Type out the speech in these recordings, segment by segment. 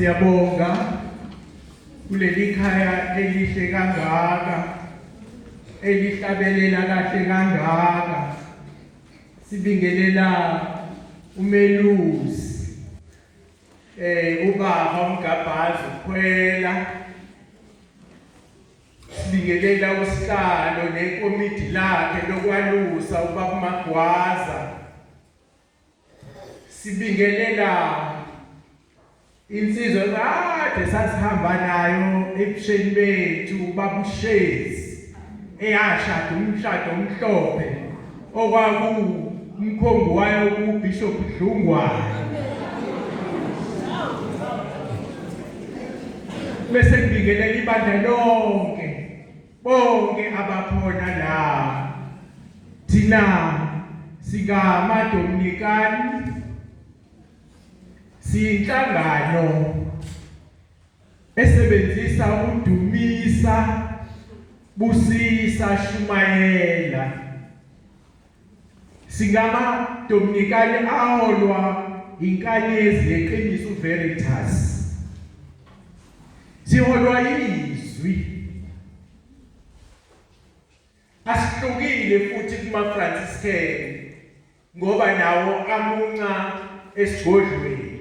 Siyabonga kuleli khaya elihle kangaka elihlabelela kahle kangaka sibingelela umelusi Eh ubaba uMgabhazi ukhwela sibingelela usihlalo nekomidi lakhe lokwalusa ubaba Magwaza sibingelela insizwa kade sasihamba nayo ebusheni bethu babushezi eyashada umshado omhlophe okwakuwumkhombi wayo uBishop Dlungwane bese ngibingelela ibandla lonke bonke abakhona la thina singamadominikani siyinhlangano esebenzisa udumisa busisa shumayela singama dominikani aholwa inkanyezi yeqiniso veritas siholwa izwi asihlukile futhi kuma Franciscan ngoba nawo amunca esigodlweni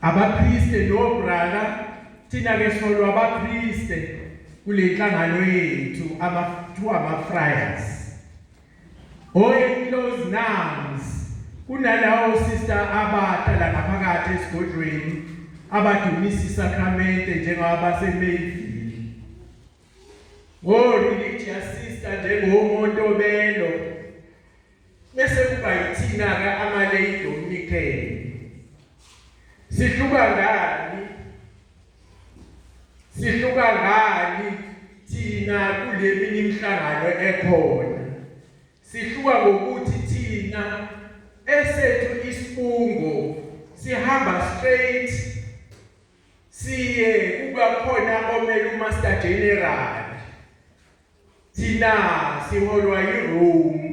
abaPriste no brother thina ke solwa abaPriste kule nhlangano yethu ama two ama friars oye close nouns kunalawo sister abata la ngaphakathi esigodlweni abadumisa isakramente njengabasemeyivini ngo religious sister njengomuntu obelo Bese kuba yithina-ke amaleyidi omnikelo. Sihluka ngani? Sihluka ngani thina kule minye imihlangano ekhona? Sihluka ngokuthi thina esethu isifungo sihamba straight siye kuba khona omele uMaster General Thina siholwa yiRome.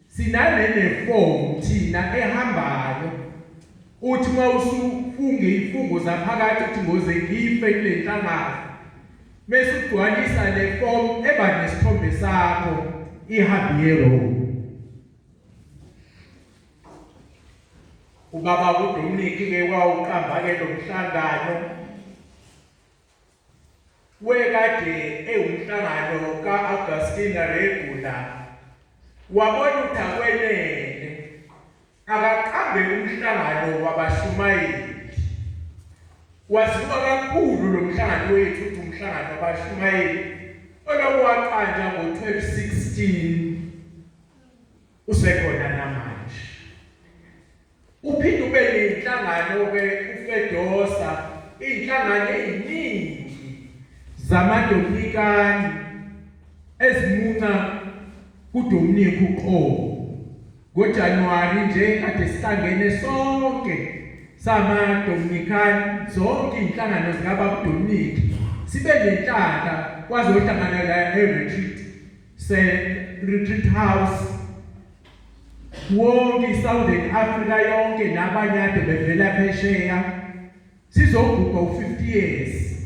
Sinale nefomu thina ehambayo. Uthi uma usufunga ifungo zaphakathi ukuthi ngoze ngife kule nhlangano. Mese ugcwalisa le fomu eba nesithombe sakho ihambi yeRome. Ubaba uDominic ke wawuqamba ke lo mhlangano wekade ewumhlangano ka-Augustina Regula wabona ukuthi akwenele akaqambe umhlangano wabashumayeli. Waziwa kakhulu lo mhlangano wethu ukuthi umhlangano wabashumayeli olokhu waqanjwa ngo-1216 usekhona namanje uphinde ube nenhlangano ke uFedosa inhlangano eziningi zamadominikani ezimunca kuDominic uqobo ngoJanuwari nje kade sihlangene sonke sama Dominican zonke inhlangano zikaba Dominic sibe nenhlaka kwazohlangana la e-retreat se retreat house wonke iSouthern Africa yonke nabanye ade bevela phesheya sizogubha u50 years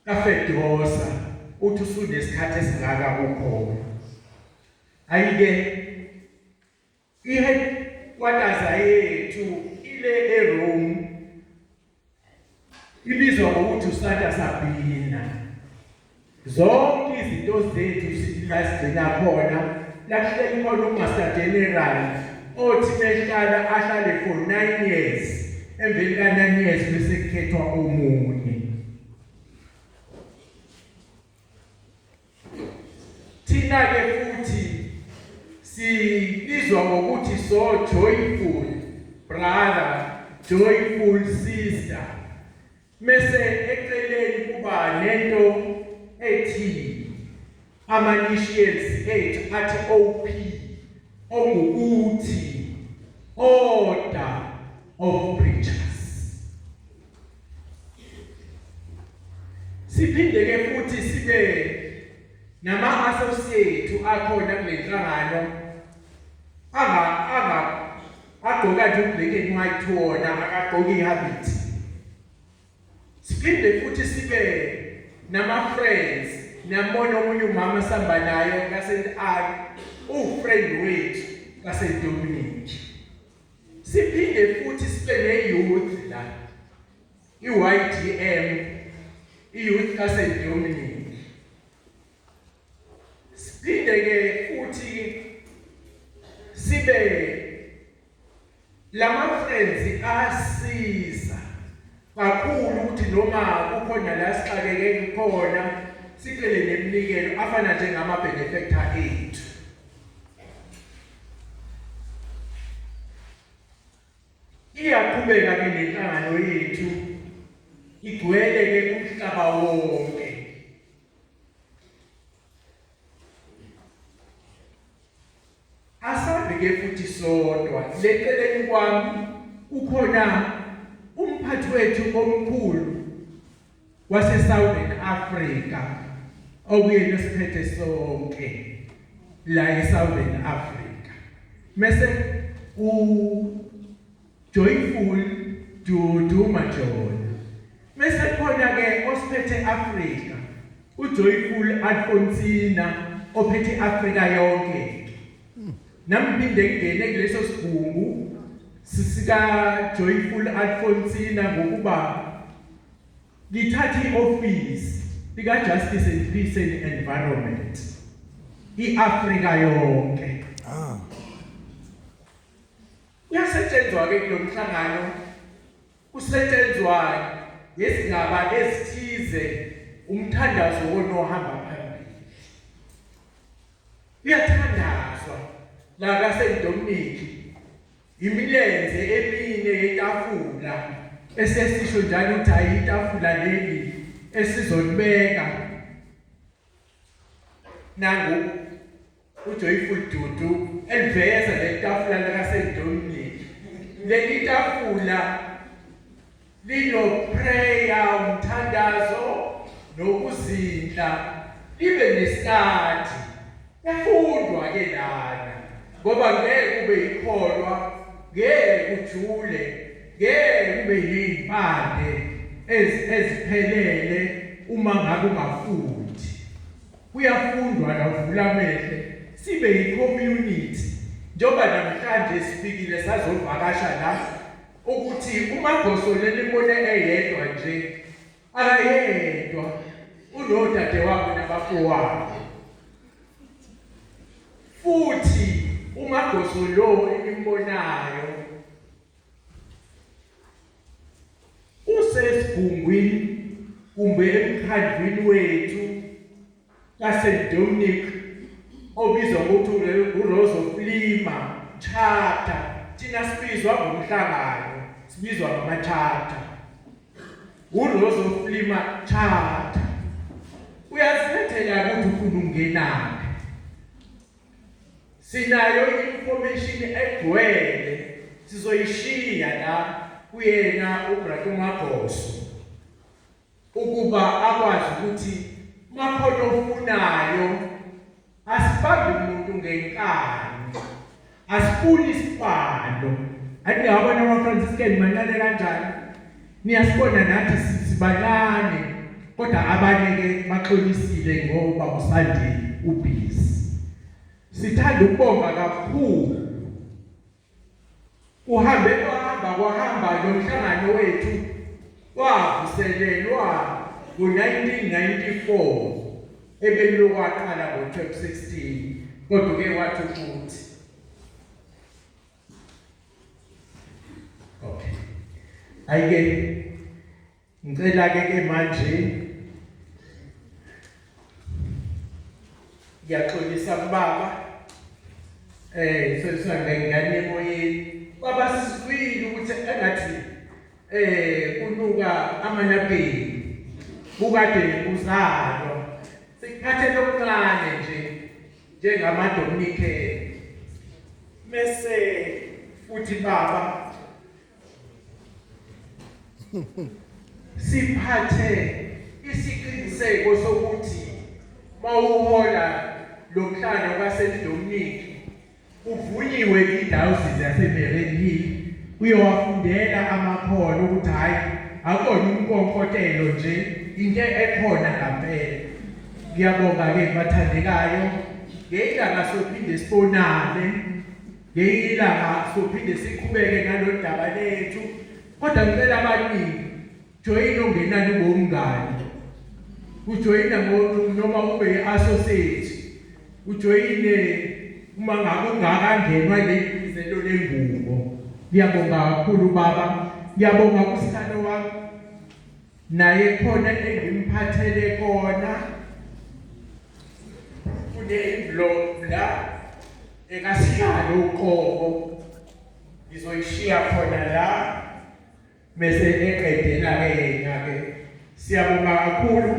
kafedosa uthi usunesikhathi esingaka kukhona ayike I headquarters yethu ile eRome. Ibizwa ngokuthi uSanta Sabina. Zonke izinto zethu sizigcina khona. Lakuhleli khona uMaster General othi behlala ahlale for 9 years. Emveni ka 9 years bese kukhethwa omunye. Thina ke futhi sibizwa ngokuthi so joyful brother, joyful sister. Mese eceleni kuba nento ethi ama initials ethu athi OP ongukuthi order of preachers. Siphinde ke futhi sibe nama associate akhona kulenhlangano anga anga agqoka nje ublack and white wona akagqoki habit. Siphinde futhi sibe nama friends namona omunye umama sihamba naye kaSent Anne uwufriend wethu kaSent Dominic. Siphinde futhi sibe ne-youth la, i-YDM, i-Youth Asset Dominic. Siphinde-ke futhi sibe lama-friends asiza kakhulu ukuthi noma kukhona la sixakeke khona sicele neminikelo afana njengama-benefactor ethu iyaqhubeka ke nenhlangano yethu igcwele ke umhlaba wonke Asabi ke futhi sodwa leceleni kwami ukhona umphathi wethu omkhulu wase Southern Africa okuyena siphethe sonke la e Southern Africa mese u Joyful Dudu Majola. Mese khona ke osiphethe Africa uJoyful Alfonsina ophethe Africa yonke. Namphinde ngene kuleso sibhungu sisika Joyful Alfonsina ngokuba ngithathe ioffice lika Justice and Peace and Environment. IAfrica yonke. Ah. Kuyasetshenzwa-ke kulo mhlangano, kusetshenzwa ngezindaba ezithize, umthandazo wonohamba phambili. Kuyathandazwa la kaSaint Dominic imilenze emine yetafula esesisho njalo ukuthi hayi itafula leli esizolibeka nangu uJoyful Dudu eliveza letafula lakaSendonini leli tafula lino prayer umthandazo nokuzindla libe nesikhathi kufundwa ke lana ngoba ngeke ube ikholwa ngeke ujule ngeke ube yimpande eziphelele uma ngabe ungafundi Kuyafundwa la uvula amehlo sibe yicommunity njengoba namhlanje sifikile sazovakasha la ukuthi umagosola elibone eyedwa nje akayedwa unodade wabo nabafowabo futhi umagoso lo enimbonayo Usesigungwini kumbe emkhandlwini wethu kaSt Dominic obizwa ngokuthi uRose of Lima Charter thina sibizwa ngomhlangano sibizwa ngamaCharter uRose of Lima Charter uyazikhethela ukuthi ufuna ungenaphi sinayo information egcwele sizoyishiya la kuyena uBrakumagoso ukuba akwazi ukuthi makhona ofunayo asibambi umuntu ngenkani asifuni isibalo andingabona ama-franciscan mancane kanjani Niyasibona nathi sibancane kodwa abanye ke baxolisile ngoba usandile ubhizi. Sithanda ukubonga kakhulu. Uhambe kwahamba kwahamba nomhlangano wethu wavuselelwa ngo-1994 ebelokwaqala ngo-2016 kodwa ke wathi ukuthi Okay. Ayike ngicela ke ke manje ngiyaxolisa kubaba eh sesisanda ingane emoyeni baba sizwile ukuthi engathi eh kunuka amanabheni bukade uzalo sikhathe lokuncane nje njengamaDominikeni. Mese futhi baba siphathe isiqiniseko sokuthi mawuhola lomhlangano kaSeliDominiki Uvunyiwe iDiocese yaseMereni Hill uyowafundela amakhono ukuthi hhayi akona umkonkotelo nje into ekhona ngampela. Ngiyabonga-ke bathandekayo ngeyilanga sophinde sibonane ngeyilanga sophinde siqhubeke nalolu daba lethu kodwa ngicela abaningi Joyina ungenani ngomngani. Ujoyina noma ube i-associate. Ujoyine uma ngabe ungakangenwa lento lengubo. Ngiyabonga kakhulu baba. Ngiyabonga kusihlalo wami. Naye khona engimphathele kona. Kune envelope la ekasihlalo uqobo. Ngizoyishiya khona la. Bese eqedela ke yena ke siyabonga kakhulu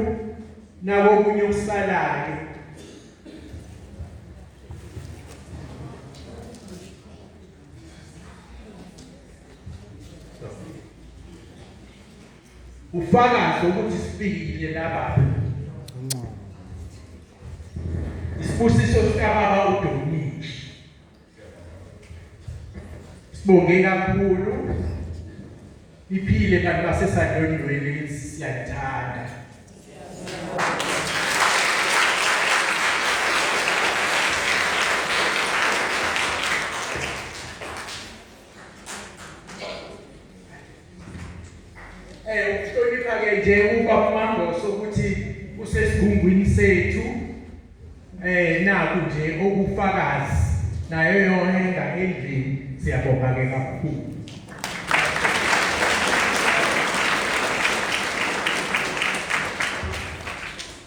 nabo kunye ukusalayo. Ufakazi ukuthi sifikile lapha. Isibusiso sikababa uDominic Sibonge kakhulu. Iphile kanti basesadondweni siyathanda. Eh ukuhlonipha ke nje uba uMangoso ukuthi usesigumbini sethu eh naku nje okufakazi nayo yona ingane endlini siyabonga ke kakhulu